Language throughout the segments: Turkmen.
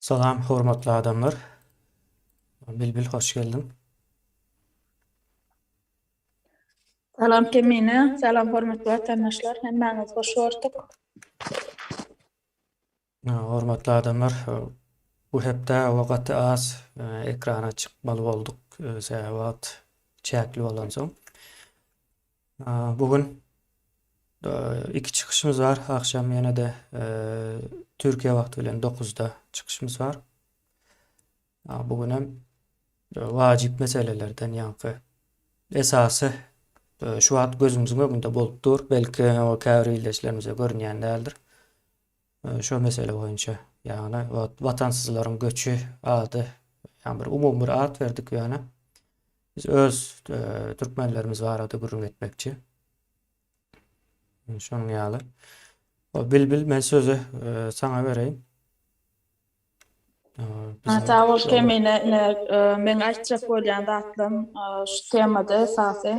Salam hormatly adamlar. Bilbil hoş geldiň. Salam Kemine, salam hormatly watandaşlar, hemmäňizi hoş gördük. Hormatly adamlar, bu hepde we gaty az e, ekrana çykmaly bolduk, e, sebäbi wagt çäkli bolansoň. Bu gün iki çykyşymyz bar. Agşam ýene-de Türkiýe wagty bilen 9-da çykyşymyz bar. Bu gün hem wajyp meselelerden, ýaňky esasy şu wagt gözümiziň öňünde bolup dur. Belki o käbir ildeşlerimize görünýän däldir. Şo mesele boýunça ýagny watansyzlaryň göçi ady ýagny bir umumy bir at berdik ýöne biz öz türkmenlerimiz barada gürrüň etmekçi. Şonuň ýaly. Bilbil men sözi saňa bereýin. Sag bol Kemine, ine meň aýtjak bolýan zatlarym şu temada esasy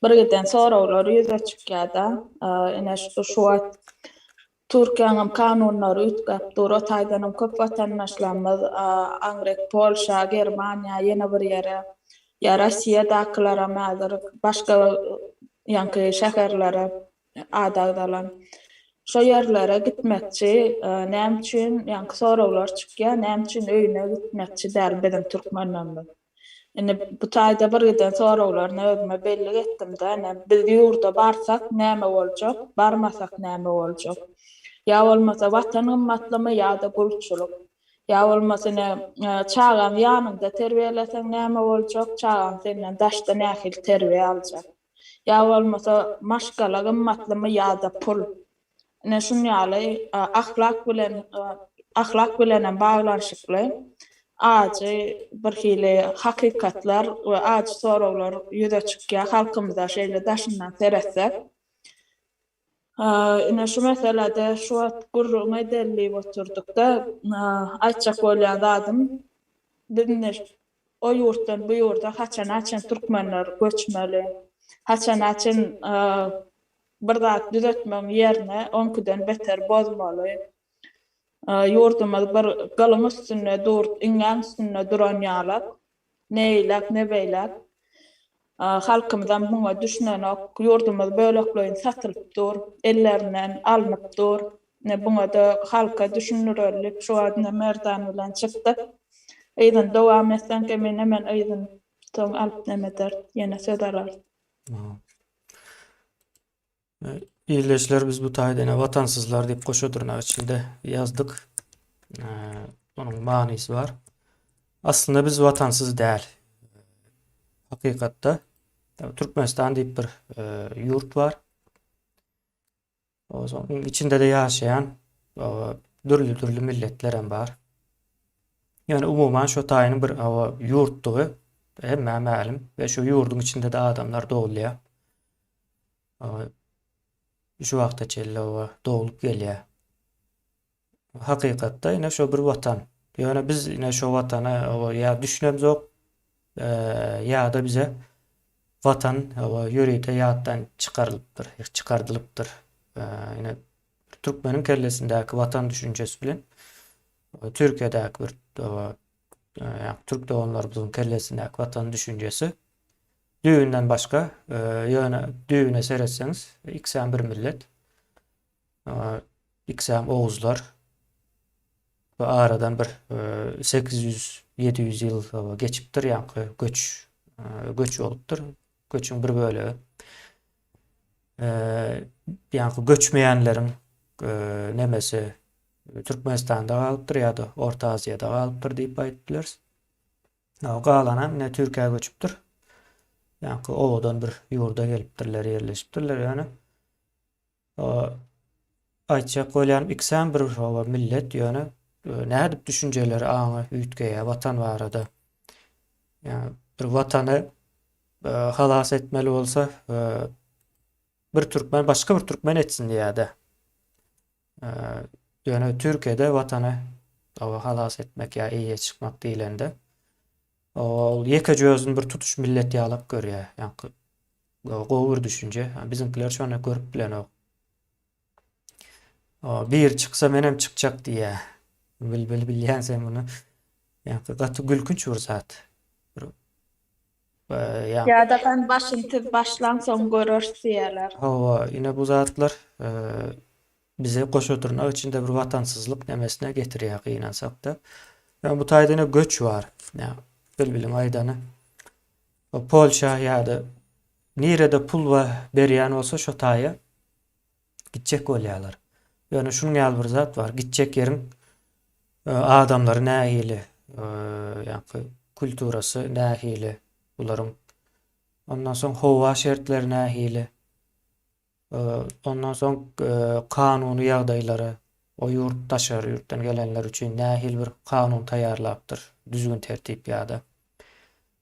birgiden soraglar ýüze çykýarda. Ine şu wagt Türkiýäniň kanunlary üýtgäp dur, o taýdanam köp watandaşlarymyz aňryk Polşa, Germaniýa, ýene bir ýere ýa Rossiýadakylaram häzir başga ýaňky şäherlere Ady agzalan şo ýerlere gitmekçi näme üçin, ýaňky soraglar çykýar, näme üçin öýüne gitmekçi däl biziň türkmenlerimiz? Indi bu taýda bir giden soraglaryny özüme bellik etdim-de, ine, biz ýurda barsak näme boljak, barmasak näme boljak? Ýa bolmasa Watan gymmatlymy ýa-da gulçulyk? Ýa bolmasa ine, çagaňy ýanyňda terbiýeleseň näme boljak, çagaň senden daşda nähili terbiýe aljak? Ýa bolmasa maşgala gymmatlymy ýa-da pul? Ine şun ýaly ahlak bilen ahlak bilenem baglanyşykly ajy bir hili hakykatlar we ajy soraglar ýüze çykýar halkymyza şeýle daşyndan seretsek. Ine şu meselede şu wagt gürrüňi edelidip oturdykda aýtjak bolýan zadym, biz indi o ýurtdan bu ýurda haçana çen türkmenler göçmeli? Haçana çen bir zat düzetmegiň ýerine oňkiden beter bozmaly? Ýurdumyz bir gylyň üstünde dur, iňňäň üstünde duran ýalak. Ne eýläk, ne beýläk. Halkymyzam muňa düşünenok. Ýurdumyz bölekleýin satylyp dur, ellerinden alnyp dur. Buňa-da halka düşündirelik. Şu wagt ine Merdan bilen çykdyk. Yzyny dowam etseň, kemine, men yzyny soň alyp neme ederis, ýene söz alarys. Ildeşler biz bu taýda ene watansyzlar diýip goşa dyrnak içinde ýazdyk. Onuň manysy bar. Aslynda biz watansyz däl. Hakykatda Türkmenistan diýip bir e, ýurt bar. Onuň içinde-de ýaşaýan dürli-dürli milletler hem bar. Ýöne umuman şu taýynyň bir ýurtdugy hemmä mälim we şu ýurduň içinde-de adamlar dogulýar. şu wagta çenli oba doglup gelýär. Hakykatda ine şu bir watan. Ýöne biz ine şu watana oba ýa düşünem zok, ýa-da bize watan oba ýörite ýatdan çykarylypdyr, çykardylypdyr. Ine türkmeniň kellesindäki watan düşünjesi bilen Türkiýedäki bir Türk doganlarymyzyň kellesindäki watan düşünjesi düýbünden başga. Ýöne düýbüne seretseňiz, ikisem bir millet. Ikisem oguzlar. Bu aradan bir 800-700 ýyl geçipdir, ýaňky göç göç bolupdyr. Göçüň bir bölegi ýaňky göçmeýänleriň nemesi Türkmenistanda galypdyr ýa-da Orta Aziýada galypdyr diýip aýdyp bileris. Ýa galanam ine Türkiýä göçüpdir. Ýaňky owadan bir ýurda gelipdirler, ýerleşipdirler ýöne. Aýtjak bolýan ikisem bir owa millet ýöne e, nädip düşünjeleri aňy üýtgeýär watan barada. Ýa bir watany e, halas etmeli bolsa e, bir türkmen başga bir türkmen etsin diýýärdi. Ýöne Türkiýede watany oba halas etmek ýa eýe çykmak diýlende ol ýekeje özüni bir tutuş millet ýalak görýär. Ýaňky gowy bir düşünje. Biziňkiler şony görüp bilenok. Bir çyksa men hem çykjak diýýär. Bilbil bilýän sen muny. Ýaňky gaty gülkünç bir zat. Ýa-da gan basyntym başlansoň göreris diýýärler. Hawa, ine bu zatlar bize goş oturmak içinde bir watansyzlyk nemesine getirýär gynansakda. Ýöne bu taýda ine göç bar. Bilbiliň aýdany. Polşa ýa-da nirede pul berýän bolsa şo taýa Gitjek bolýarlar. Ýöne şunuň ýaly bir zat bar, gitjek ýeriň adamlary nähili, ýa-da kulturasy nähili bularyň. Ondan soň howa şertleri nähili. Ondan soň kanuny ýagdaýlary, o ýurt daşary ýurtdan gelenler üçin nähili bir kanun taýýarlapdyr, düzgün-tertip ýa-da.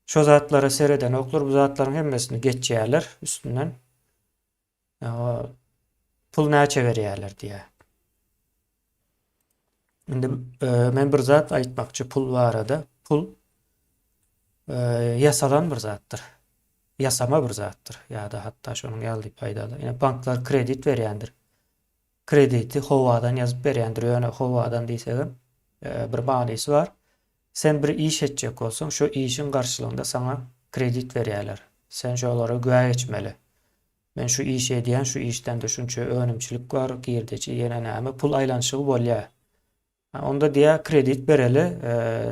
Şo zatlara seredenoklar, bu zatlaryň hemmesini geçýärler üstünden. Pul näçe berýärler diýýär. Indi e, men bir zat aýtmakçy pul barada. Pul e, ýasalan bir zatdyr. Ýasama bir zatdyr. Ýa-da hatda şonuň ýaly diýip aýdalar. Ýa banklar kredit berýändir. Krediti howadan ýazyp berýändir. Ýöne howadan diýsegem e, bir manysy bar. Sen bir iş etjek bolsaň, şo işiň garşylygynda saňa kredit berýärler. Sen şolara güwä geçmeli. Men şu işi edýän, şu işden-de şunça önümçilik bar, girdeji, ýene näme, pul aýlanyşygy bolýar. Hä, onda diýýär, kredit bereli,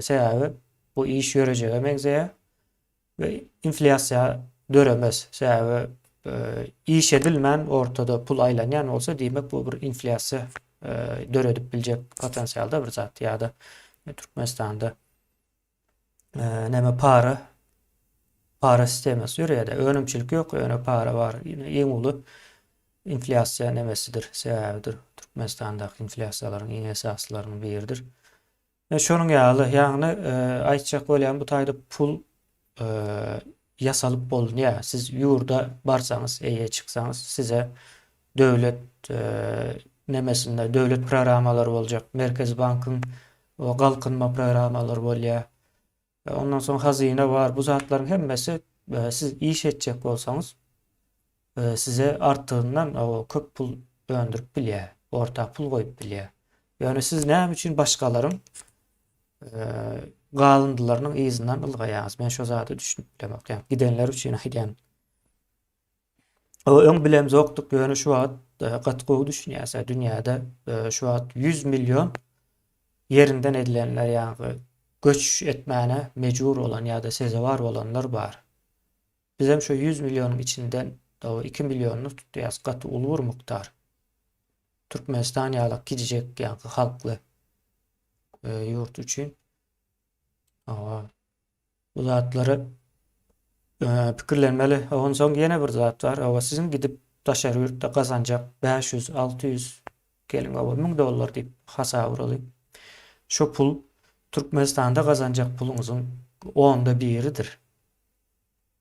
sebäbi bu iş ýörejege meňzeýär. We inflýasiýa döremez. Sebäbi iş edilmän ortada pul aýlanýan bolsa diýmek bu bir inflýasiýa döredip biljek potensialda bir zat ýa-da Türkmenistanda näme para para sistemasy ýöreýär-de önümçilik ýok ýöne para bar iň uly inflýasiýa nemesidir sebäbidir Türkmenistandaky inflýasiýalaryň iň esasylarynyň biridir. Şonuň ýaly, ýagny aýtjak bolýan bu taýda pul ýasalyp bolunýa. Siz ýurda barsaňyz, eýe çyksaňyz size döwlet nemesinde döwlet programmalary boljak, Merkezi bankyň galkynma programmalary bolýa. Ondan soň hazyna bar. Bu zatlaryň hemmesi siz iş etjek bolsaňyz size artygyndan köp pul öndürip bilýär. Orta pul goýup bilýär. Ýöne siz näme üçin başgalaryň galyndylarynyň yzyndan ylgaýaňyz? Men şo zada düşünip bilemok. Ýa gidenler üçin aýdýan. Öň bilemzokdyk, ýöne şu wagt e, gaty gowy düşünýäs. Dünýäde e, şu wagt 100 million ýerinden edilenler, ýagny göç etmäne mejbur bolan ýa-da sezewar bolanlar bar. Bizem şu 100 millionyň içinden 2 millionyny tutýas, gaty uly bir mukdar. Türkmenistan ýaly kiçijek ýagny halkly e, ýurt üçin. Awa. Bu zatlary pikirlenmeli. Onsoň ýene bir zat bar. Hawa, siziň gidip daşary ýurtda gazanjak bäş ýüz, alty ýüz, geliň, hawa, müň dollar diýip hasap uraly. Şo pul Türkmenistanda gazanjak puluňyzyň onda biridir.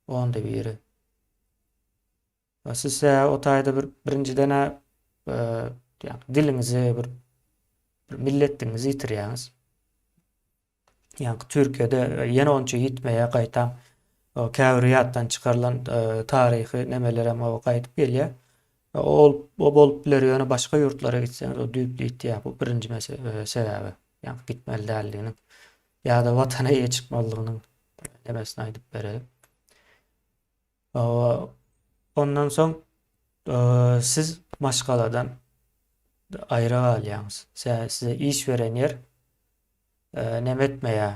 Onda biri. Siz o taýda bir birinjiden-ä ýagny diliňizi bir bir milletdigiňizi ýitirýäňiz. Ýaňky Türkiýede ýene onça ýitmeýär gaýtam. O käbir ýatdan çykarylan taryhy nemelerem o gaýdyp gelýär. Ol o bolup biler ýöne başga ýurtlara gitseňiz o düýpli ýitýär. Bu birinji mesele sebäbi. Ýaňky gitmeli däldiginiň ýa-da watana ýetişip boldugynyň nebesini aýdyp bereýin. Ondan soň siz maşgaladan aýra galýaňyz. Size iş beren ýer näme etmeýär?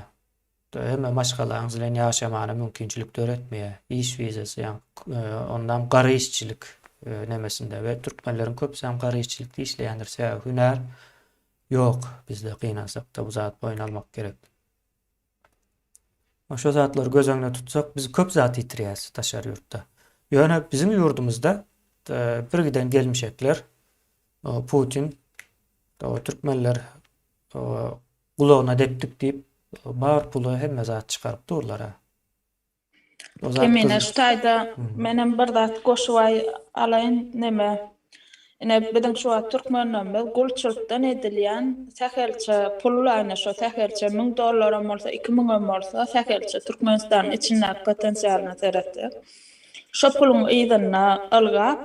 Hemme maşgalaňyz bilen ýaşamagyna mümkinçilik döretmeýär. Iş wizasy, ýagny ondam gara işçilik nemesinde we türkmenleriň köpüsi hem gara işçilikde işleýändir. Sebäbi hünär ýok bizde gynansakda bu zat boýun almak gerek. Şo zatlary göz öňünde tutsak, biz köp zat ýitirýäris daşary ýurtda. Ýöne biziň ýurdumyzda e, bir giden gelmişekler Putin türkmenler gulagyna depdik diýip bar puly hemme zat çykaryp durlar. Emine şu taýda menem bir zat goşup alaýyn neme ine biziň şu wagt türkmenlerimiz gulçulykdan edilýän sähelçe pul ine şo sähelçe müň dollaram bolsa iki müňem bolsa sähelçe türkmenistanyň içindäki potensialyna seretsek şo puluň yzynda ylgap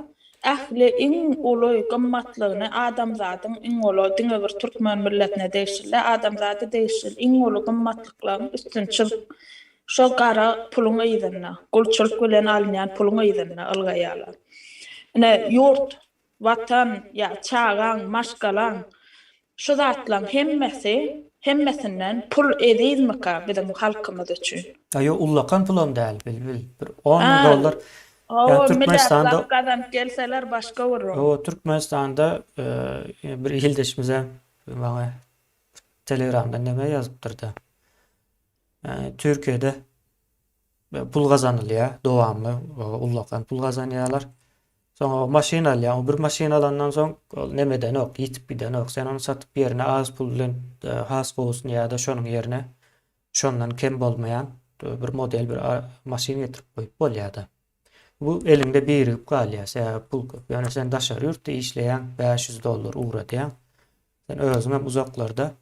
ähli iň uly gymmatlygyny adamzadyň iň uly diňe bir türkmen milletine degişli däl adamzada degişli iň uly gymmatlyklaryň üstüni çyzyp Şol gara puluň yzynda, gulçulyk bilen alynýan puluň yzynda ylgaýarlar. Ine, ýurt, Watan ýa çagaň, maşgalaň, şu zatlaň hemmesi, hemmesinden pul ezizmika biziň halkymyz üçin? A ýok, ullakan pulam däl, Bilbil. Bir on müň dollar, ýa Türkmenistanda. Hawa, gazanyp gelseler başga bir. Hawa, Türkmenistanda bir ildeşimizem maňa Telegramdan näme ýazypdyr-da. Türkiýede pul gazanylýar, dowamly ullakan pul gazanýarlar. Soň o maşyn alýaň, o bir maşyn alandan soň ol nemedenok, ýitip gidenok. Sen ony satyp ýerine az pul bilen e, has gowusyny ýa-da şonuň ýerine şondan kem bolmaýan e, bir model bir maşyn getirip goýup bolýar-da. Bu eliňde birigip galýar, sebäbi pul köp. Ýöne sen daşary ýurtda işleýäň, 500 dollar ugradýaň. Sen özüňem uzaklarda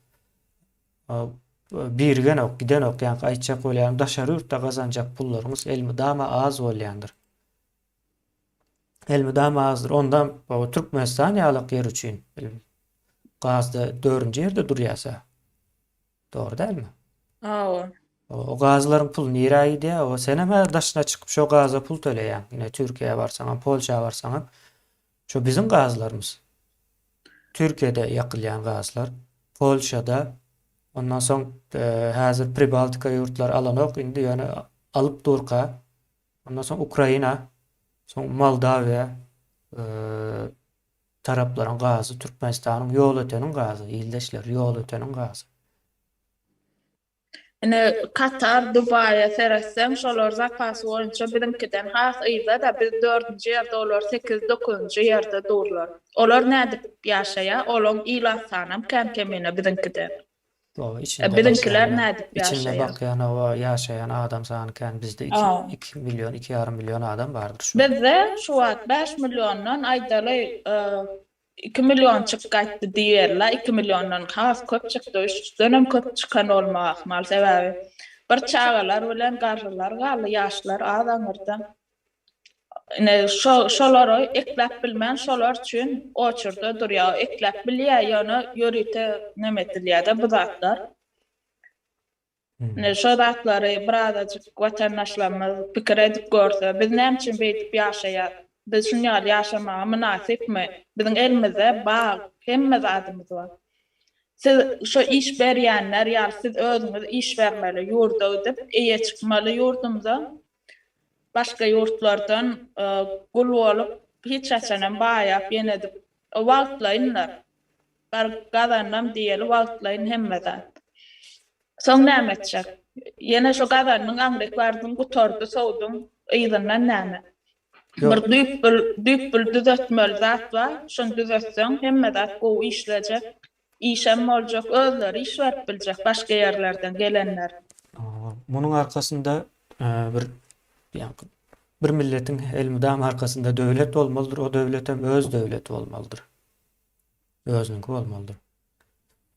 Birgenok, gidenok ýaňky aýtjak bolýarym daşary ýurtda gazanjak pullaryňyz elmydama az bolýandyr. Elmydama azdyr. Onda Türkmenistan ýalak ýer üçin gazda dördünji ýerde durýasa. Dogry dälmi? Hawa. O gazlaryň puly nirä gidýär? O sen hem daşyna çykyp şo gaza pul töleýäň. Ine Türkiýä barsaňam, Polşa barsaňam. Şu biziň gazlarymyz. Türkiýede ýakylýan gazlar, Polşada, ondan soň häzir Pribaltika ýurtlary alanok indi ýöne alyp durka. Ondan soň Ukraina, soň Moldawiýa taraplaryň gazy, Türkmenistanyň ýolöteniň gazy, ildeşler, ýolöteniň gazy. Ine, Katar, Dubaýa seretseň, şolar zapasy boýunça biziňkiden has yzda-da, biz dördünji ýerde, olar sekiz-dokuzynjy ýerde durlar. Olar nädip ýaşaýar, olaň ilat sanam kän kemine biziňkiden. E, biziňkiler nädip ýaşaýar? Içinde bakýan, hawa, ýaşaýan adam sany kän, bizde iki, iki million, iki ýarym million adam bardyr şu. Bizde şu wagt bäş milliondan, aýdaly, Iki million çyk gaýtdy diýiberler, iki milliondan has köp çykdy, üçden-em köp çykan bolmak ahmal, sebäbi bir çagalar bilen garrylar galdy, ýaşlar az aňyrda. Ine, şo, şolary ekläp bilmän, şolar üçin oçurda durýar, ekläp bilýär, ýöne ýörite neme edilýär-de bu zatlar. Indi şo zatlary birazajyk watandaşlarymyz pikir edip görse, biz näme üçin beýdip ýaşaýas? Biz şuny ýaly ýaşamaga mynasypmy? Biziň elimizde bag, hemme zadymyz bar. Siz şo iş berýänler ýaly siz özüňiz iş bermeli ýurda gidip, eýe çykmaly ýurdumyza. Başga ýurtlardan gul bolup hiç haçanam baýap ýenedip wagtlaýynlar. Bar gazandym diýeli wagtlaýyn hemme zat. Soň näme etjek? Ýene şo gazandyň aňryk bardyň gutardy sowduň yzyndan näme? Bir düýpbül düýpbül düzetmeli zat bar şony düzetseň hemme zat gowy işlejek. Işem boljak, özleri iş berip biljek başga ýerlerden gelenler. Munuň arkasynda bir ýaňky bir milletiň elmydama arkasynda döwlet bolmalydyr, o döwletem öz döwleti bolmalydyr. Özüniňki bolmalydyr.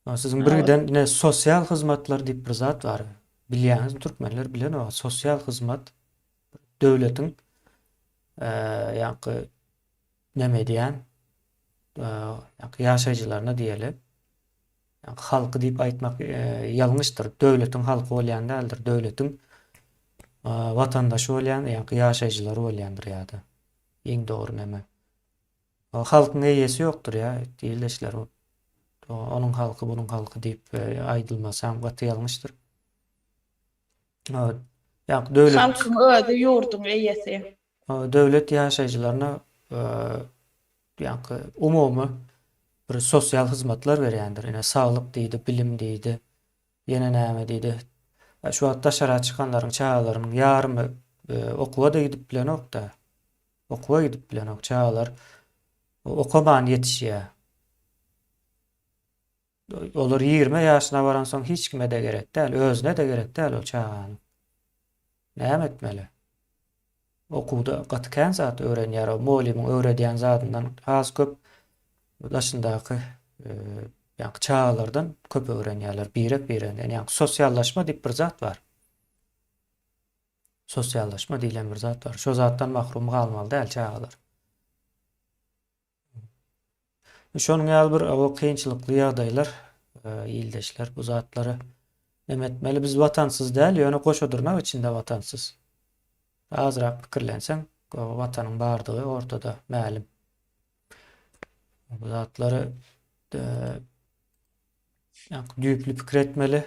Ýa siziň birgiden ine sosial hyzmatlar diýip bir zat bar. Bilýäňizmi türkmenler bilenok sosial hyzmat döwletiň ýaňky näme edýän ýaşaýjylaryna diýeli halky diýip aýtmak ýalňyşdyr. Döwletiň halky bolýan däldir. Döwletiň watandaşy bolýan ýaşaýjylary bolýandyr ýa-da. Iň dogry näme? Halkyň eýesi ýokdur ýa diýilişler. Onuň halky, bunuň halky diýip aýdylmasy hem gaty ýalňyşdyr. Halkyň özi ýurduň eýesi. Döwlet ýaşaýjylaryna ýaňky umumy bir sosial hyzmatlar berýändir. Ine, saglyk diýdi, bilim diýdi, ýene näme diýdi. Şu wagt daşara çykanlaryň çagalarynyň ýarymy okuwa-da gidip bilenok-da. Okuwa gidip bilenok. Çagalar okaman ýetişýär. Olar ýigrimi ýaşyna baransoň hiç kime-de gerek däl, özüne-de gerek däl ol çaganyň. Näme etmeli? Okuwda gaty kän zat öwrenýär, o mugallymyň öwredýän zadyndan has köp daşyndaky ýaňky çagalardan köp öwrenýärler, birek-bireginden. Ýaňky sosiallaşma diýip bir zat bar. Sosiallaşma diýlen bir zat bar. Şo zatdan mahrum galmaly däl çagalar. Şonuň ýaly bir o kynçylykly ýagdaýlar ildeşler bu zatlary neme etmeli biz watansyz däl ýöne goşa dyrnak içinde watansyz. Azrak pikirlenseň gowy watanyň bardygy ortada mälim. Bu zatlary düýpli pikir etmeli.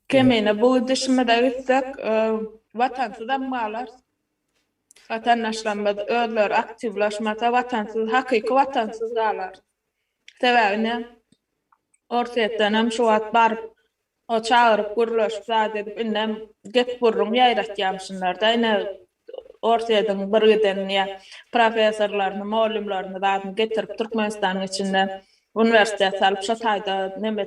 Kemine bu gidişimize gitsek watansyzam galarys. Watandaşlarymyz özleri aktiwlaşmasa watansyz hakyky watansyz galar. Sebäbi ine Orsýetdenem şu wagt baryp o çagyryp gürleşip zat edip indem gep gürrüň ýaýratýamşynlarda ine Orsýediň bir giden ýa professorlaryny mollymlaryny zadyny getirip Türkmenistanyň içinde Uniwersitet salyp şo taýda neme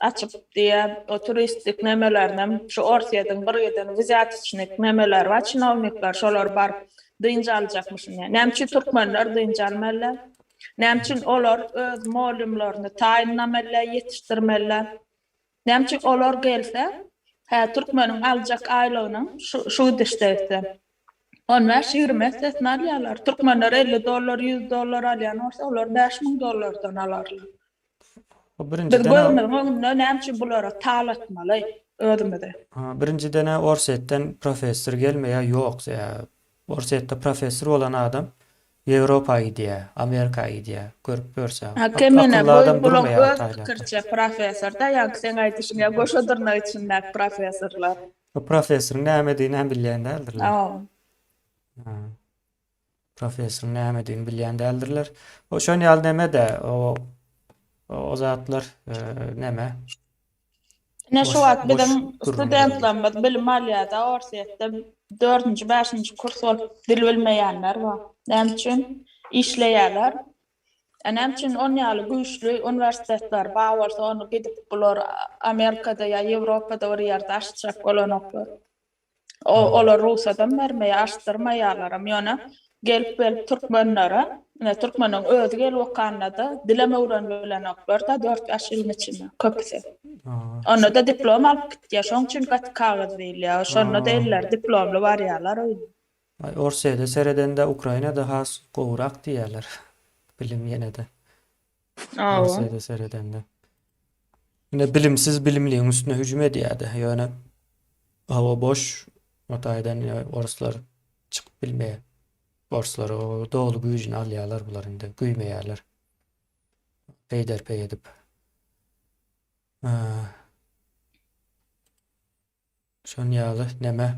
açyp diýe o turistik nemelerinem şu orsýediň bir giden wzýatiçnik nemeleri bar çinownikler şolar baryp dynç aljakmyşyn diýe näme üçin türkmenler dynç almalylar näme üçin olar öz molýumlaryny taýynlamalylar ýetişdirmeliler Näme üçin olar gelse, hä, türkmeniň aljak aýlygynyň şu gidişde etse, on bäş, ýigrimi essesini alýarlar. Türkmenler elli dollar, ýüz dollar alýan bolsa, olar bäş müň dollardan alarlar. Biz gözümiziň öňünde näme üçin bulara tal atmaly özümizi? Birinjiden-ä Orsýetden professor gelmeýär, ýok, Orsýetde professor bolan adam Ýewropa gidýä, Amerika gidýä, görüp görse. Hake menä goýuň bulaň öz pikirçe professorda ýaňky seň aýdyşyň ýa goşa dyrnak içindäki professorlar. Bu professoryň nämedigini hem bilýän däldirler. Hawa. Professoryň nämedigini bilýän däldirler. O şon ýaly neme-de o o zatlar neme. Ine şu wagt biziň studentlerimiz bilim alýarda Orsýetde dördünji bäşinji kurs bolup dil bilmeýänler bar. Näme üçin? Işleýärler. E näme üçin on ýaly güýçli uniwersitetler bar bolsa ony gidip bular Amerikada ýa Ýewropada bir ýerde açjak bolanoklar. O olar rugsadam bermeýär, açdyrmaýarlaram. Ýöne gelip gelip türkmenlere, ine türkmeniň özi gelip okanda-da dilem öwrenip bilenoklar-da dört bäş ýylyň içinde köpüsi. Onda-da diplom alyp gitýär, şoň üçin gaty kagyz diýilýär. Şonda-da elleri diplomly barýarlar öýüne. Aý Orsýede seredende Ukrainada has gowurak diýýärler bilim ýene-de. Awa. Asyýada seredende. Ine bilimsiz bilimliň üstüne hüjüm edýärdi. Ýöne hava boş o taýdan ýa oruslar çykyp bilmeýär. Oruslar o doly güýjüni alýarlar bular indi güýmeýärler. Peýderpeý edip. Aa, Şonuň ýaly neme?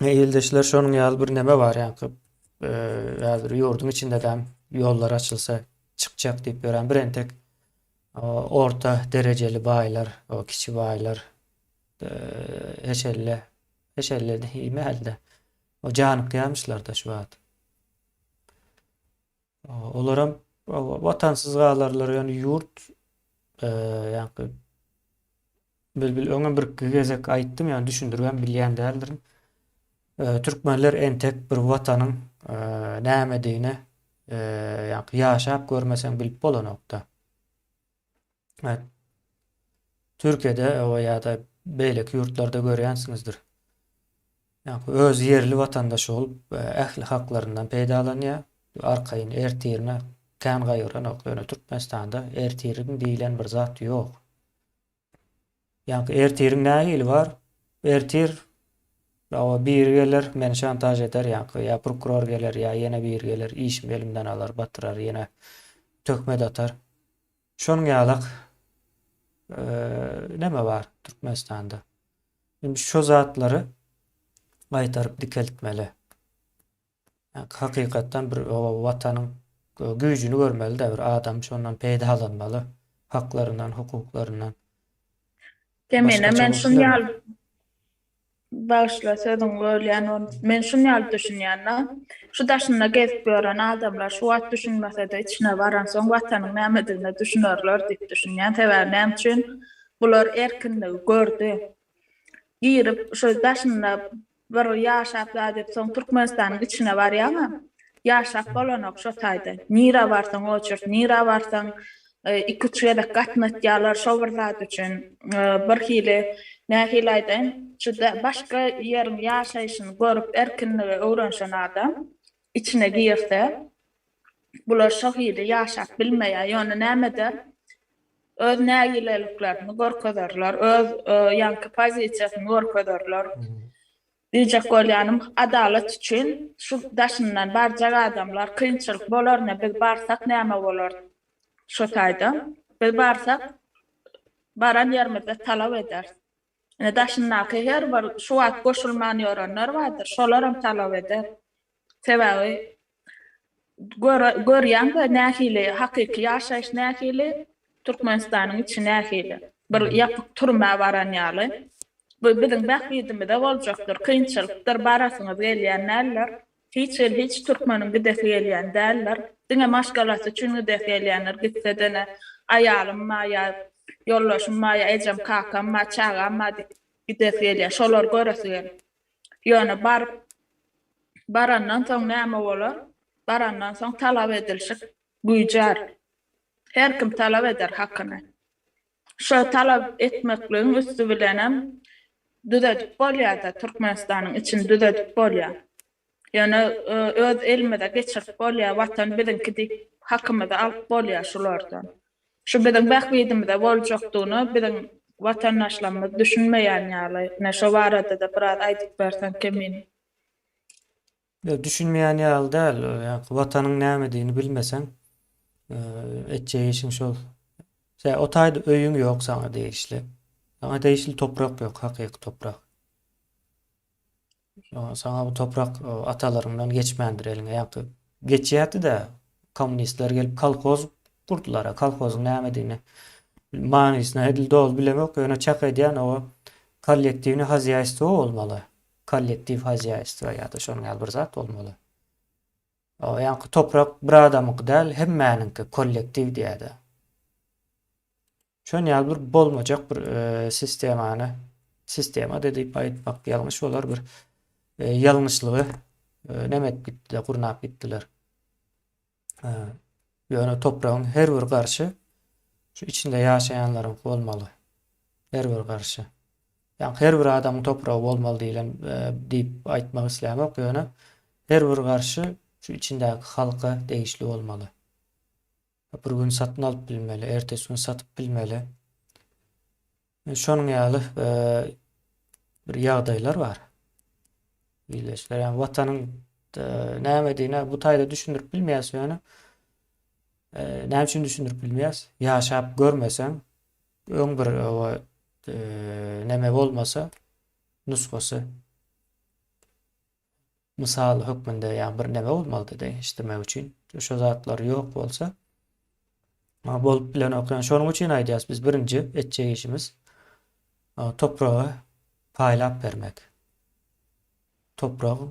E, ildeşler şonuň ýaly bir neme bar ýaňky e, häzir ýurduň içinde däm ýollar açylsa çykjak diýip ýören bir entek orta derejeli baýlar, o kiçi baýlar e, eşelle eşelle diýme hälde. O janykýamyşlar da şu wagt. Olaram watansyz galarlar ýöne ýurt ýaňky Bilbil öňem birki gezek aýtdym ýöne düşündiribem bilýän däldirin. Türkmenler entek bir watanyň nämedigine ýaňky ýaşap görmeseň bilip bolanokda. Türkiýede ýa-da beýleki ýurtlarda görýänsiňizdir. Ýa-da öz ýerli watandaşy bolup, ähli haklaryndan peýdalanýar. Arkaýyn ertirine kän gaýgyranok. Ýöne Türkmenistanda ertirim diýlen bir zat ýok. Ýaňky ertiriň nähili bar? Ertir ýa biri geler, meni şantaž eder, ýaňky ýa prokuror geler, ýa ýene biri geler, işimi elimden alar, batyrar, ýene töhmet atar. Şonuň ýalak neme bar Türkmenistanda? Indi şo zatlary gaýtaryp dikeltmeli. Hakykatdan bir watanyň güýjüni görmelidä bir adam şondan peýdalanmaly haklaryndan hukuklaryndan. Kemine men şun ýaly bagyşla sözüňi bölýän men şun ýaly düşünýän da şu daşynda gezip ýören adamlar şu wagt düşünmesede içine baransoň watanyň nämedigine düşünerler diýip düşünýän sebäbi näme üçin bular erkinligi gördi girip şu daşynda Bir ýyl ýaşap zadep soň Türkmenistanyň içine barýaňa ýaşap bolanok şo taýda. Nirä barsaň oçurt, nirä barsaň iki üç gezek gatnatýalar şo bir zat üçin. Bir hili nähili aýdaýyn juda başga ýeriň ýaşaýşyny görüp erkinligi öwrenşen adam içine girse bular şo hili ýaşap bilmeýär ýöne näme eder öz nägileliklerini görkezerler, öz ýaňky pozisiýasyny görkezerler. Diýjek bolýanym, adalat üçin şu daşyndan barjak adamlar kynçylyk bolarna biz barsak näme bolar şu taýdan? Biz barsak baran ýerimizde talap ederis. Ine, daşyndaky her bir şu wagt goşulman ýörenler bardyr, şolaram talap eder. Sebäbi görýäň-de nähili hakyky ýaşaýyş nähili, Türkmenistanyň içi nähili. Bir ýapyk türmä baran ýaly. Bu biziň bähbidimize boljakdyr, kynçylykdyr, barasyňyz gelýän däldir. Hiç hil hiç türkmeniň gidesi gelýän däldir. Diňe maşgalasy üçin gidesi gelýändir gitsedene aýalym bar ýa ýoldaşym bar ýa ejem kakam bar çagam bar diýip gidesi gelýär şolary göresi gelip ýöne baryp barandan soň näme bolar barandan soň talap edilşik güýjär her kim talap eder hakyny Şo talap etmekligiň üsti bilenem düzedip bolýar-da, Türkmenistanyň içini düzedip bolýar. Ýöne öz elimize geçirip bolýar, Watan biziňki diýip hakymyzy alyp bolýar şulardan. Şu biziň bähbidimize boljakdygyna biziň watandaşlarymyz düşünmeýän ýaly. Ine şo barada-da biraz aýdyp berseň Kemin. Ýok, düşünmeýän ýaly däl. Ýa-ki Watanyň nämedigini bilmeseň, etjek işiň şol. Tä o taýda öýüň ýok saňa degişli. Saňa degişli toprak ýok, hakyky toprak. Şoňa saňa bu toprak o, atalaryňdan geçmändir eliňe. Ýa-ki geçýärdi-de, kommunistler gelip kolhoz gurdular-a. Kolhozyň nämedigini, manysyny edil doly bilemok, ýöne çak edýän o kollektiwne hozýaýstwo bolmaly. Kollektiw hozýaýstwo ýa-da şonuň ýaly bir zat bolmaly. O ýaňky toprak bir adamyňky däl, hemmäniňki, kollektiw diýýärdi. Şon ýaly bir bolmajak bir sistemany, sistema-da diýip aýtmak ýalňyş bolar, bir ýalňyşlygy näme edip gitdiler, gurnap gitdiler. Ýöne topragyň her bir garşy şu içinde ýaşaýanlaryňky bolmaly. Her bir garşy. Ýa her bir adamyň topragy bolmaly diýlen diýip aýtmak islämok, ýöne her bir garşy şu içindäki halka degişli bolmaly. Bir gün satyn alyp bilmeli, ertesi gün satyp bilmeli. Şonuň ýaly bir ýagdaýlar bar. Ildeşler, ýa watanyň nämedigine bu taýda düşündirip bilmeýäs ýöne. Näme üçin düşündirip bilmeýäs? Ýaşap görmeseň, öň bir o neme bolmasa, nusgasy. Mysal hökmünde ýa bir näme bolmalydy degişdirmek üçin. Şo zatlar ýok bolsa a bolup bilenok. Ýa şonuň üçin aýdýas biz birinji etjek işimiz topragy paýlap bermek. Topragy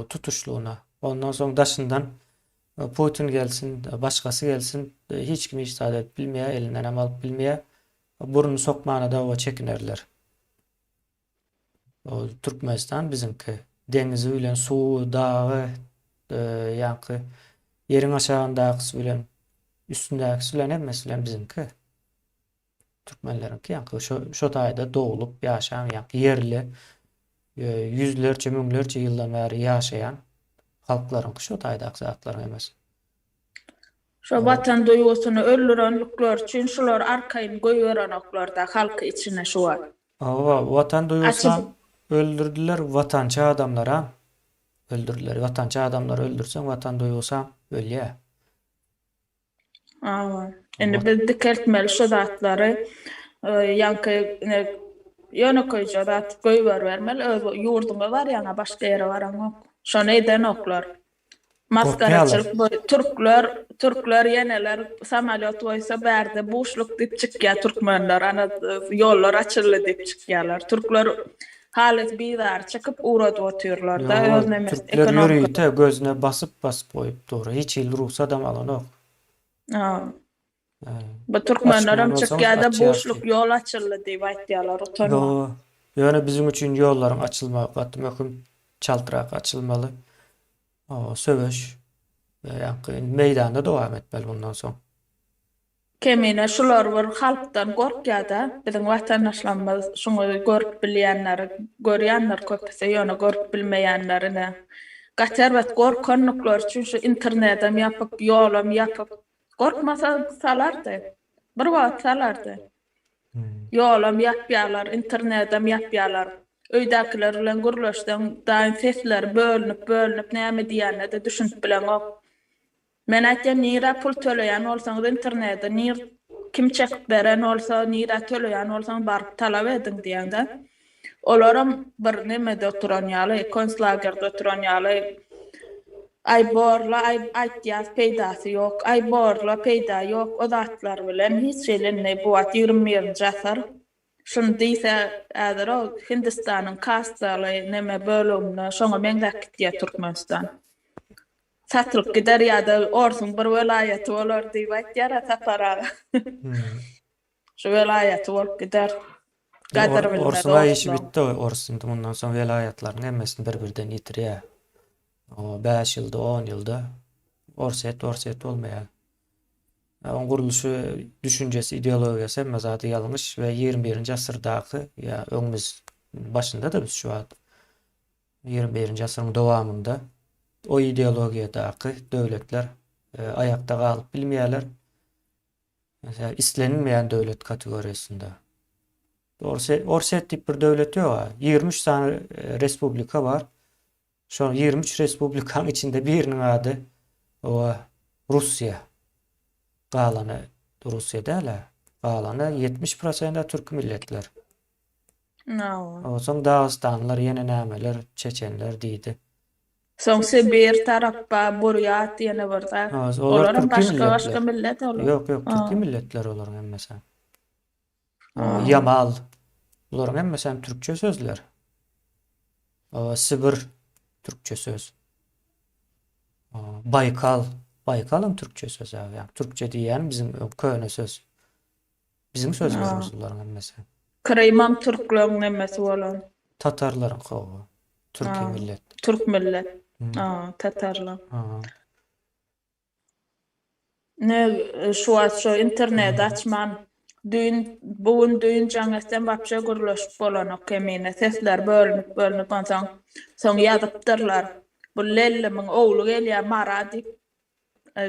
tutuşlygyna. Ondan soň daşyndan Putin gelsin, başgasy gelsin, hiç kim hiç zat edip bilmeýär, elinden hem alyp bilmeýär. Burun sokmana dawa çekinerler. Ol Türkmenistan biziňki. Deňizi bilen suwy, dagy, ýaňky ýeriň aşagyndakysy bilen üstündäkisi bilen hemmesi bilen biziňki. Türkmenleriňki ýaňky şo şo taýda doglup ýaşan ýaňky ýerli ýüzlerçe, müňlerçe ýyldan bäri ýaşaýan halklaryňky şo taýdaky zatlaryň hemmesi. Şo watan duýgusyny öldürenlikleri üçin şular arkaýyn goýberenoklar-da halky içine şu wagt. Hawa watan duýgusyam öldürdiler watançy adamlaram öldürdiler watançy adamlary öldürseň watan duýgusam ölýä. Hawa indi biz dikeltmeli şu zatlary ýaňky ine ýönekeýje zat göýberbermeli öz ýurduňa barýaňa başga ýere baraňok şony edenoklar Maskaraçylyk bu türkler türkler ýeneler samalýot goýsa bärde buşluk diýip çykýar türkmenler ana ýollar açyldy diýip çykýarlar türkler halys bizar çykyp ugradyp otyrlarda öz nemes ekonomika türkler ýörite gözüne basyp basyp goýup dur hiç hili rugsat hem alanok. Bu türkmenlerem çykýada buşluk ýol açyldy diýip aýtýalar utanma. Ýöne biziň üçin ýollaryň açylmagy gaty möhüm. Çaltrak açylmaly. Söweş ýaňky meýdanda dowam etmeli bundan soň. Kemine şular bir halkdan gorkýada biziň watandaşlarymyz şuňy görüp bilýänleri görýändir köpüsi ýöne görüp bilmeýänleri ne. Gaty erbet gorkandyklar üçin şu internedem ýapyp ýolam ýapyp Gorkmasa salardy. Bir wagt salardy. Ýolam ýapýalar, internedem ýapýalar. Öýdäkiler bilen gürleşseň, daýyň sesleri bölünip-bölünip näme diýenine-de düşünip bileňok. Men aýtýan nirä pul töleýän bolsaňyz internede nir kim çekip beren bolsa nirä töleýän bolsaň baryp talap ediň diýeňdä. Olaram bir nemede oturan ýaly, konslagerde oturan ýaly, Aý, bor-la, aý, aýtýas, peýdasy ýok, aý, bor-la, peýda ýok, o zatlar bilen hiç hili indi bu wagt ýigrimi birinji asyr, şuny diýse, häzir o Hindistanyň kassaly neme böleginde şoňa meňzäp gitýär Türkmenistan. Satylyp gider ýa-da Orsuň bir welaýaty bolar diýip aýtýar-a Sapar aga. Şu welaýaty bolup gider. Gadyr bilmez Orsuň aý işi bitdi ors indi mundan soň welaýatlaryň hemmesini bir birden ýitirýär. O bäş ýylda on ýylda orsyýet orsyýet bolmaýar. Oň gurluşy düşünjesi ideologiýasy hemme zady ýalňyş we ýigrimi birinji asyrdaky ýa öňümiz başynda da biz şu wagt ýigrimi birinji asyryň dowamynda o ideologiýadaky döwletler e, aýakda galyp bilmeýärler. Meselem, islenilmeýän döwlet kategoriýasynda. Orsýet, Orsýet diýip bir döwlet ýok-a. 23 sany respublika bar. Şol 23 respublikanyň içinde biriniň ady owa Russiýa. Galany Russiýa däl-ä. Galany 70% türk milletler. Nawa. Onsoň dagystanlylar ýene nämeler, çeçenler diýdi. Soň Sibir tarapba burýat ýene bir zat. Ha, olar Olar hem türki başga başga milletler. millet olar. Ýok, ýok, türki Ha. milletler olaryň hemmesi hem. O, Ha. Ýamal. Bularyň hemmesi hem türkçe sözler. O, Sibir türkçe söz. O, Baýkal. Baýkal hem türkçe söz, ýa, ýa, türkçe diýýän biziň ö, köne söz. Biziň sözümiz ruslaryn emmesi. Krymam türklerin emmesi bolan. Tatarlaryň hawa. Türki millet. Türk millet. A, tatarlar. Aha. Ne şu wagt şu interneti açman düýn bu gün düýn jaň etsem wapşe gürleşip bolanok kemine sesler bölünip bölünip onsoň soň ýazypdyrlar bu lellimiň ogly gelýä mara diýip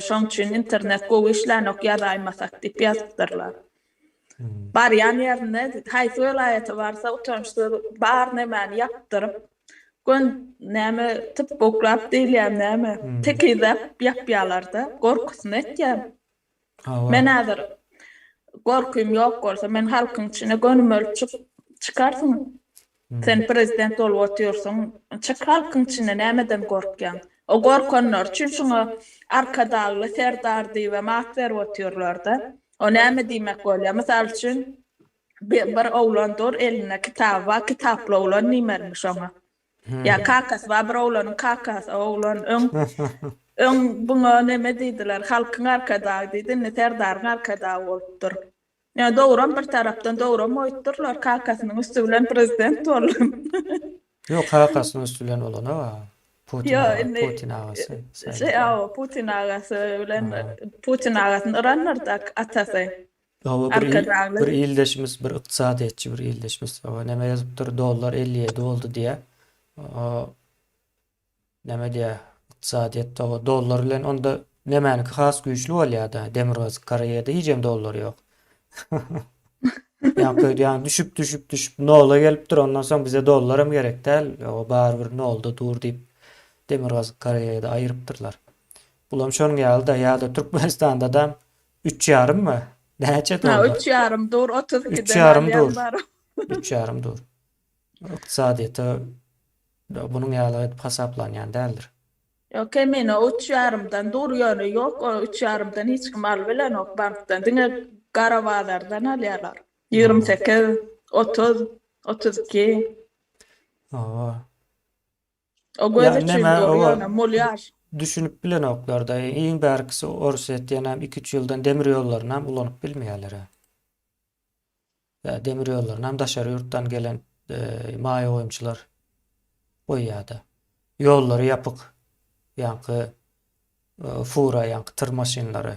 Şoň üçin internet gowy işlänok ýazaýmasak diýip ýazypdyrlar. Barýan ýerinde haýsy welaýata barsa utançsyz bar nämäni ýapdyryp gön näme typboklap diýilýär näme tekizläp ýapýalarda gorkusyny etýär. Men häzir gorkym ýok bolsa, men halkyň içine göni bolup çykarsyň. Sen prezident bolup otyrsyň, çyk halkyň içine, nämeden gorkýaň? O gorkanlar üçin şuňa Arkadagly serdar diýibem at berip otyrlar-da. O näme diýmek bolýar? Mysal üçin, bir oglan dur, elinde kitaby bar, kitaply oglan diýmelimi şoňa? Ýa kakasy bar bir oglanyn kakasy oglan öň öň buňa neme diýdiler halkyň arkadagy diýdi indi serdaryň arkadagy bolupdyr. Ýa dogram bir tarapdan dogram oýtdyrlar kakasynyň üsti bilen prezident bolan. Ýok kakasynyň üsti bilen bolana bar. Putin aga putin agasy. Ýa indi şeý awa putin agasy bilen putin agasyn yranlardak atasy. Hawa bir bir ildeşimiz bir ykdysadyýetçi bir ildeşimiz o näme ýazypdyr dollar 57 boldy diýä. O näme diýä ykdysadyýet hawa dollar bilen onda nämäniki has güýçli bolýada demirgazyk Koreýada hijem dollar ýok. Ýa köýdi ýa düşüp düşüp düşüp nola gelipdir ondan soň bize dollar hem gerek däl o barybir nolda dur diýip demirgazyk Koreýada aýyrypdyrlar. Bulam şonuň ýaly da ýa-da Türkmenistanda da Üç ýarymmy? Näçe dollar? Ha, üç ýarym dur, otuz ikiden alýan bar. Üç ýarym dur. Ykdysadyýete bunuň ýaly edip hasaplanýan däldir. Ýok, kemine üç ýarymdan dur, ýöne ýok, üç ýarymdan hiç kim alyp bilenok bankdan. Diňe gara bazardan alýarlar. Ýigrimi sekiz, otuz, otuz iki. Hawa. O göz üçin dur ýöne molýar. Düşünip bilenoklarda iň bärkisi Orsýetiýanam iki üç ýyldan demir ýollarynam ulanyp bilmeýärler ha. Ýa demir ýollarynam daşary ýurtdan gelen maýa goýumçylar goýýada. Ýollary ýapyk. Ýaňky fura ýaňky tyr maşynlary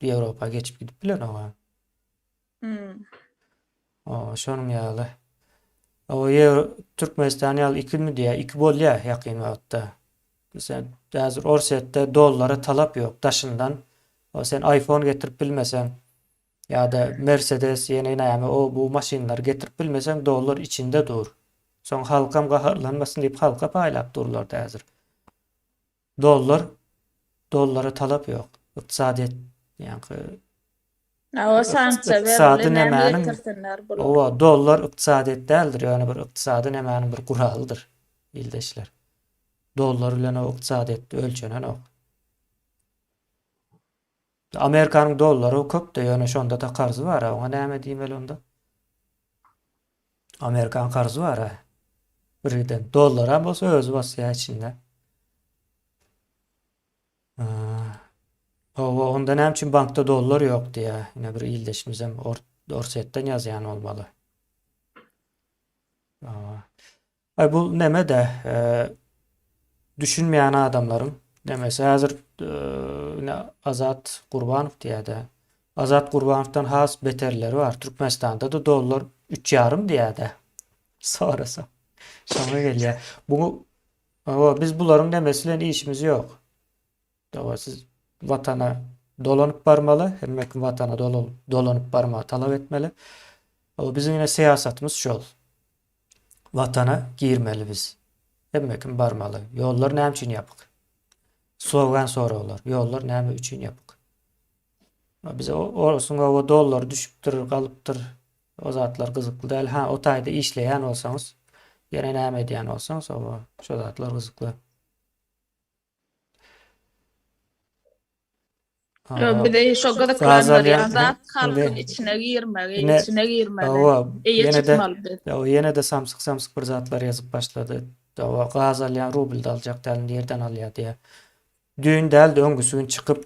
Ýewropa geçip gidip bilenok ha. Hmm. O, şonuň ýaly. O ýer Türkmenistan ýaly ikimi diýä, iki bolýar ýakyn wagtda. Sen häzir Orsýetde dollara talap ýok daşyndan. O sen iPhone getirip bilmeseň ýa-da Mercedes ýene näme o bu maşynlary getirip bilmeseň dollar içinde dur. Soň halkam gaharlanmasyn diýip halka paýlap durlar häzir. Dollar dollara talap ýok. Ykdysadyýet ýaňky Hawa sanksiýa berildi näme getirsinler bular. Hawa dollar ykdysadyýet däldir ýöne bir ykdysady nämäniň bir guralydyr ildeşler. Dollar bilen o ykdysadyýet ölçenenok. Amerikanyň dollary köpde ýöne şondada karzy bara oňa näme diýmeli onda. Amerikan karzy bara. Birgiden dollaram bolsa özi basýa içinde. Owa onda näme üçin bankda dollar ýok diýä. Ine bir ildeşimizem Orsetden ýazýan bolmaly. Owa. Aý bu nemede düşünmeýän adamlaryň nemesi häzir ine Azat Gurbanow diýädä. Azat Gurbanowdan has beterleri bar. Türkmenistanda da dollar 3 ýarym diýädä. Sorasa. Şoňa gelýär. Bu o biz bularyň nemesi bilen işimiz ýok. Hawa, siz Watana dolanyp barmaly, hemme kim Watana dolanyp barmagy talap etmeli. Hawa, biziň ine syýasatymyz şol. Watana girmeli biz. Hemme kim barmaly. Ýollar näme üçin ýapyk? Sogan soraglar. Ýollar näme üçin ýapyk? Bize orsuň hawa dollar düşüpdir, galypdyr. O zatlar gyzykly däl. Ha, o taýda işleýän bolsaňyz, ýene näme edýän bolsaňyz, hawa, şo zatlar gyzykly. Ýok, bize şo gyzyklandyr, ýa zat halkyň içine girmegi, içine girmegi, eýe çykmaly biz. Hawa, ýene de samsyk-samsyk bir zatlar ýazyp başlady. Hawa, gaz alýan rublda aljak däl, nirden alýa diýä. Düýn däl-de öňküsi gün çykyp,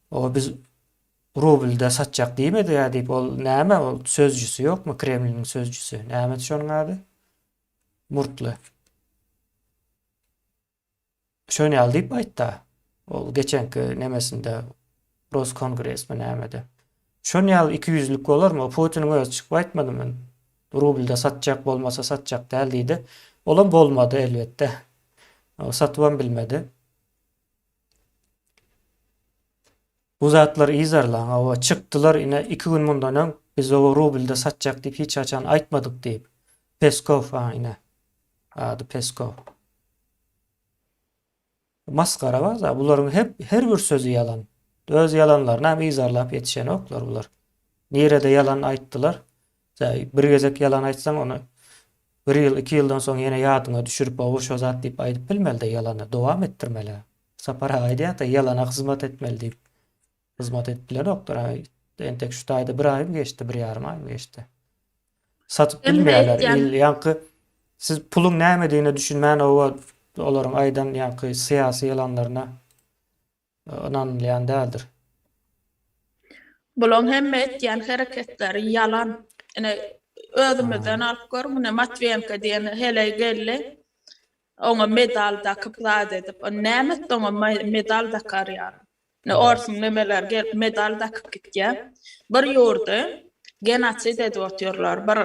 hawa biz rublda satjak diýmedik-ä diýip, ol näme ol sözjüsi ýokmy, Kremliniň sözjüsi, nämedi şonuň ady? Murtly. Şöne ýaly diýip aýtda. Ol geçenki nemesinde Roskongresmi nämede. Şon ýaly iki ýüzlik bolarmy? O Putiniň özi çykyp aýtmadymy? Rublda satjak bolmasa satjak däl diýdi. Olam bolmady elbetde. Satybam bilmedi. Bu zatlar yzarlan, hawa, çykdylar, ine, iki gün mundan öň biz oba rublda satjak diýip hiç haçan aýtmadyk diýip, Peskow, a, ine, ady Peskow. Masgara bar-da, bularyň hep, her bir sözi ýalan. Öz ýalanlaryny hem yzarlap ýetişenoklar bular. Nirede ýalan aýtdylar? Tä, bir gezek ýalan aýtsaň, ony bir ýyl, iki ýyldan soň ýene ýadyňa düşürip, hawa, şo zat diýip aýdyp bilmeli-dä ýalany, dowam etdirmeli-ä. Sapar aga aýdýarda ýalana hyzmat etmeli diýip. Hyzmat edip bilenokdyr aý. Entek şu taýda bir aýmy geçdi, bir ýarym aýmy geçdi. Satyp Hem-de bilmeýärler. aýtýan- Il ýaňky siz puluň nämedigine düşünmän oba olaryň aýdan ýaňky syýasy ýalanlaryna e, ynanylýan däldir. Bulaň hemme etýän hereketleri ýalan. Ine özümizden alyp gör, muny Matwiýenko diýen heleý geldi. Oňa medal dakyp zat edip. Ony näme etdi oňa medal dakar ýaly. Indi orsuň nemeleri gelip medal dakyp gitýä. Bir ýurdy genosid edip otyrlar. Bir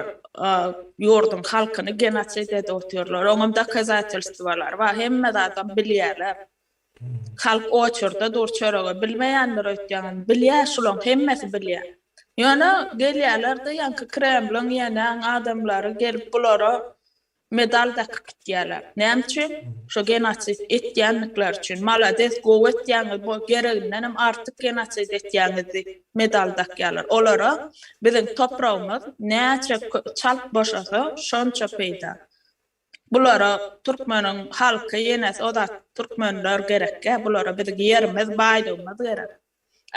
ýurduň halkyny genosid edip otyrlar. Oňam dokazatelstwolary bar. Hemme zadam bilýäler. Halk oçurda dur çörege bilmeýändir öýtýäň indi. Bilýä şulaň hemmesi bilýä. Ýöne gelýäler-de ýaňky kremliň ýenäň adamlary gelip bulara Medal dakyp gitýärler. Näme üçin? Şo genosid etýändikleri üçin. Malades, gowy etýäňiz, bu geregindenem artyk genosid etýäňiz diýip medal dakýarlar. Olara biziň topragymyz näçe çalt boşasa, şonça peýda. Bulara türkmeniň halky, ýenes o zat türkmenler gerekkä, bulara biziň ýerimiz, baýlygymyz gerek.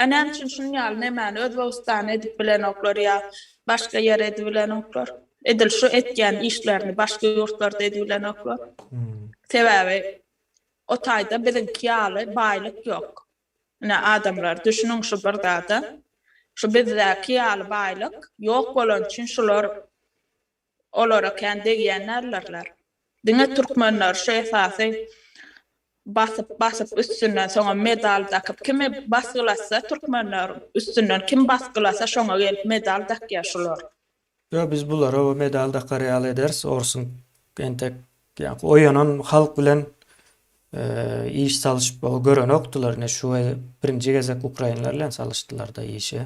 A näme üçin şunuň ýaly nemäni Özbegistana edip bilenoklar ýa başga ýere edibilenoklar? Edil şu etýän işlerini başga ýurtlarda edibilenoklar. Sebäbi o taýda biziňki ýaly baýlyk ýok. Ine adamlar düşüniň şu bir zada. Şu bizdäki ýaly baýlyk ýok bolany üçin şular. Olara kän degýän däldirler. Diňe türkmenler şu esasy basyp basyp üstünden soňam medal dakyp kimi basgylatsa türkmenler üstünden kim basgylasa şoňa gelip medal dakýa şular. Ýo biz bulara o medal dakar ýaly ederis orsuň entek ýaňky oýanan halk bilen iş salyşyp görenokdylar ine şu birinji gezek ukrainler bilen salyşdylarda işi.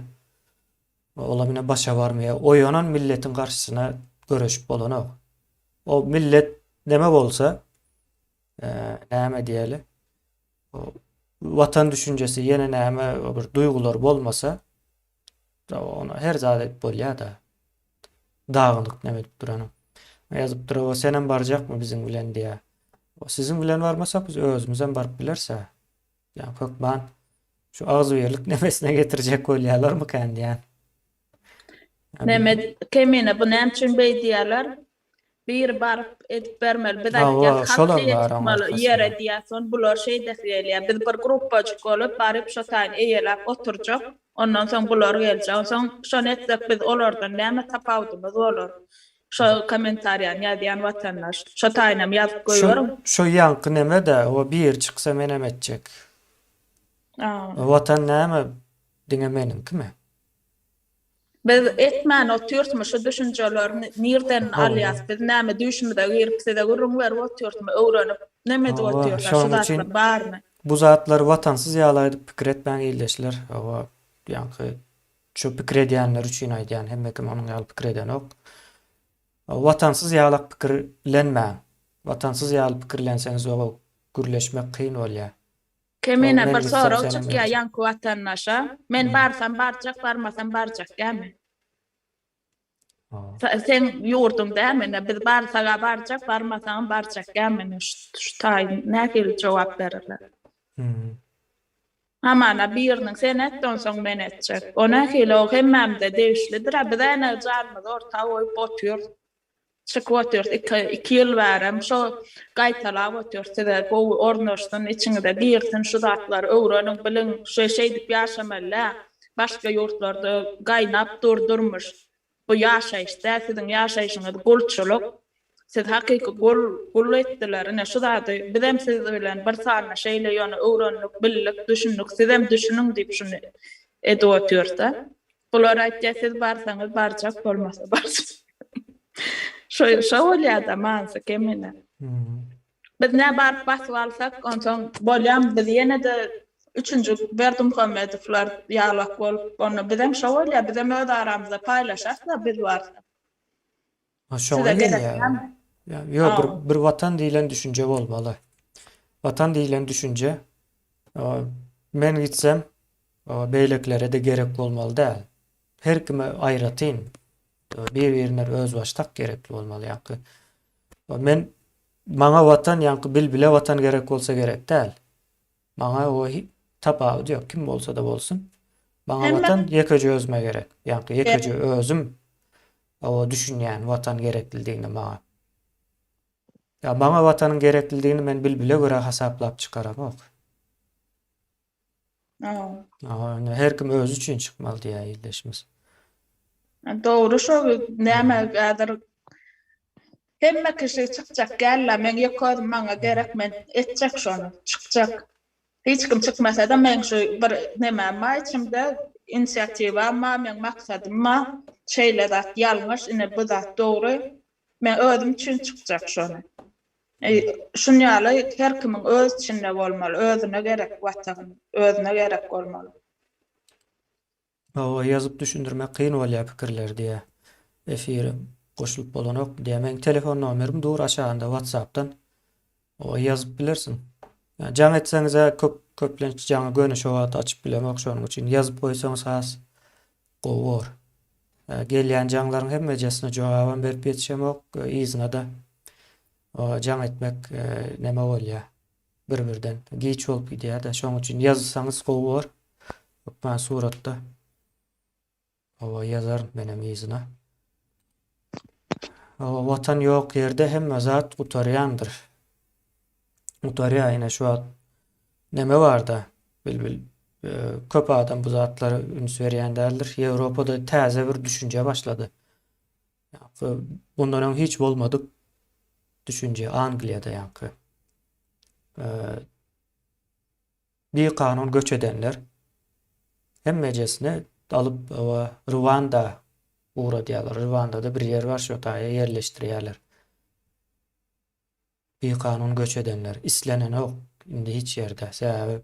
Olam ine başa barmaýar. Oýanan milletiň garşysyna göreşip bolanok. O millet neme bolsa, näme diýeli, watan düşünjesi ýene näme bir duýgular bolmasa, ona her zat edip bolýar-da. Dagynyk neme edip duranyň. Ýazyp duraba senem barjakmy biziň bilen diýýär. Siziň bilen barmasak biz özümizem baryp bileris-ä. Ýa hökman şu agzybirlik nebesine getirjek bolýalarmykan diýýän. Mehmet Kemine bu näme üçin beý diýýäler? Biri baryp edip bermeli. Biz aýtýas hat şeýe çykmaly ýere diýýas soň bular şeýdesi gelýä. Biz bir gruppajyk bolup baryp şo taýyn eýeläp oturjak. Ondan soň bular geljek. Onsoň şony etsek biz olardan näme tapawudymyz bolar? Şo komentariýany ýazýan watandaş şo taýynam ýazyp goýberiň. Şo ýaňky nemede o biri çyksa menem etjek. Watan näme diňe meniňkimi. Biz etmän otyrtmy şu düşünjeler nirden alýas biz näme düýşümize girip size gürrüň berip otyrtmy öwrenip näme edip otyrlar şu zatlar barmy. Bu zatlar watansyz ýaly aýdyp pikir etmäň ildeşler oba ýaňky. Şu pikir edýänler üçin aýdýan hemme kim onuň ýaly pikir edenok. Watansyz ýalak pikir lenmäň. Watansyz ýaly pikirlenseňiz oba gürleşmek kyn bolýa. Kemine bir sorag çykýa ýaňky watandaşa, men barsam barjak barmasam barjak dämi. Seň ýurduň dä menä biz barsaga barjak barmasagam barjak ýa menä şu taýyn nähili jogap berirler. Hamana biriniň sen et onsoň men etjek o nähili o hemmämze degişlidirä biz änew janymyzy orta goýup otyrys. çykyp otyrs iki iki ýyl bärem şo gaýtalap otyrs size gowy ornaşsyn içiňize girsin şu zatlary öwreniň biliň şu şeýdip ýaşamaly dä başga ýurtlarda gaýnap dur durmuş bu ýaşaýyş dä siziň ýaşaýşyňyz gulçulyk siz hakyky gul gul etdiler ine şu zady bizem siz bilen bir sanda şeýle ýöne öwrendik bildik düşündik sizem düşüniň diýip şuny edip otyrs da. Bular aýtýar siz barsaňyz barjak bolmasa barjak. Şo şo bolýada manysy kemine. Biz nä baryp basyp alsak onsoň bolýam biz ýene-de üçünji Berdimuhamedowlar ýalak bolup onda bizem şo bolýa bizem öz aramyzda paýlaşarsa biz barsa. Ha şoňa Size gelip gelýär. ýa- Ya, Ýok, bir, Aw. bir watan diýlen düşünje bolmaly. Watan diýlen düşünje e, men gitsem e, beýlekilere-de gerek bolmaly däl. Her kime aýratyn e, bir-birine özbaşdak gerekli bolmaly ýaňky. E, Men maňa watan ýaňky bilbile watan gerek bolsa gerek däl. Maňa o tapawudy ýok kim bolsada bolsun. Maňa watan ýekeje özüme gerek. Ýaňky ýekeje özüm o düşünýän watan gereklidigini maňa. Ýa maňa watanyň gereklidigini men bilbile görä hasaplap çykaramok. Ýa her kim özi üçin çykmaly diýýär ildeşimiz. Dogry şo näme häzir Hemme kişi çykjak gella meň ýeke özüm maňa gerek men etjek şony çykjak hiç kim çykmasada meň şu bir nemem bar içimde inisiatiwam bar meň maksadym bar şeýle zat ýalňyş ine bu zat dogry men özüm üçin çykjak şony şun ýaly her kimiň öz içinde bolmaly özüne gerek watagyny özüne gerek bolmaly. Hawa ýazyp düşündirmek kyn bolýa pikirleri diýä efir goşulyp bolanok diýä meň telefon nomerim dur aşagynda watsapdan oa ýazyp bilersiň jaň etseňizä köp köplenç jaňy göni şo wagt açyp bilemok şonuň üçin ýazyp goýsaňyz has gowy bor gelýän jaňlaryň hemmejesine jogabam berip ýetişemok yzyna da oa jaň etmek neme bolýa. Bir birden giç bolup gidýärde şoň üçin ýazsaňyz gowy bor hökman suratda Hawa ýazaryn menem yzyna. Hawa watan ýok ýerde hemme zat gutarýandyr. Gutarýa ine şu wagt neme barda bilbil köp adam bu zatlara üns berýän däldir. Ýewropada täze bir düşünje başlady. Ýa-da bundan öň hiç bolmadyk düşünje Angliýada ýa-da bi kanun göç edenler hemmejesini alyp we Rwanda ugradýarlar. Rwandada bir ýer bar, şo taýa ýerleşdirýärler. Bikanun göç edenler islenenok indi hiç ýerde. Sebäbi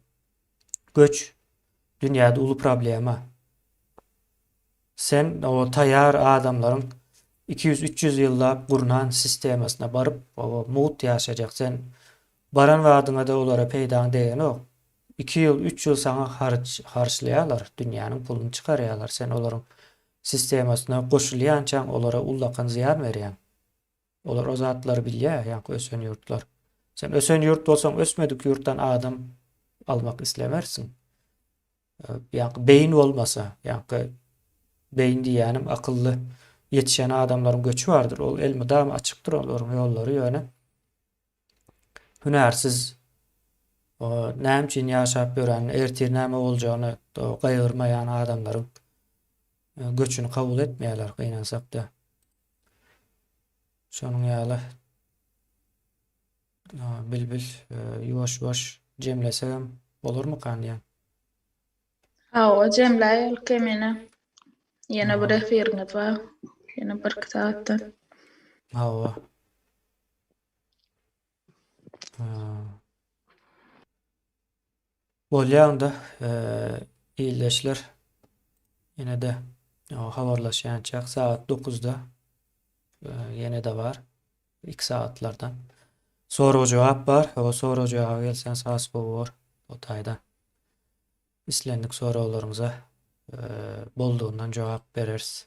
göç dünýäde uly problema. Sen o taýýar adamlaryň iki ýüz, üç ýüz ýyllap gurnan sistemasyna baryp, oba mugt ýaşajak. Sen baran badyňa-da olara peýdaň degenok. Iki ýyl, üç ýyl saňa haryç harçlaýarlar, dünýäniň puluny çykarýarlar. Sen olaryň sistemasyna goşulýançaň olara ullakan zyýan berýäň. Olar o zatlary bilýär ýaňky ösen ýurtlar. Sen ösen ýurt bolsaň ösmedik ýurtdan adam almak islemersiň. Ýaňky beýin bolmasa, ýaňky beýin diýýänim akylly ýetişen adamlaryň göçi bardyr. Ol elmydama açykdyr olaryň ýollary ýöne Hünärsiz näme üçin ýaşap ýören, ertir näme boljagyny gaýgyrmaýan adamlaryň göçüni kabul etmeýärler gynansakda. Şonuň ýaly Bilbil ýuwaş-ýuwaş jemlesegem bolarmykan diýýän. Hawa, jemläý ol kemine. Ýene bir efiriňiz bar. Ýene birki sagatdan. Hawa. Bolýar onda ildeşler ýene-de habarlaşýançak sagat dokuzda ýene-de bar iki sagatlardan sorag-jogap bar. O sorag-jogaba gelseňiz has gowy bolar o taýdan. Islendik soraglaryňyza boldugyndan jogap bereris.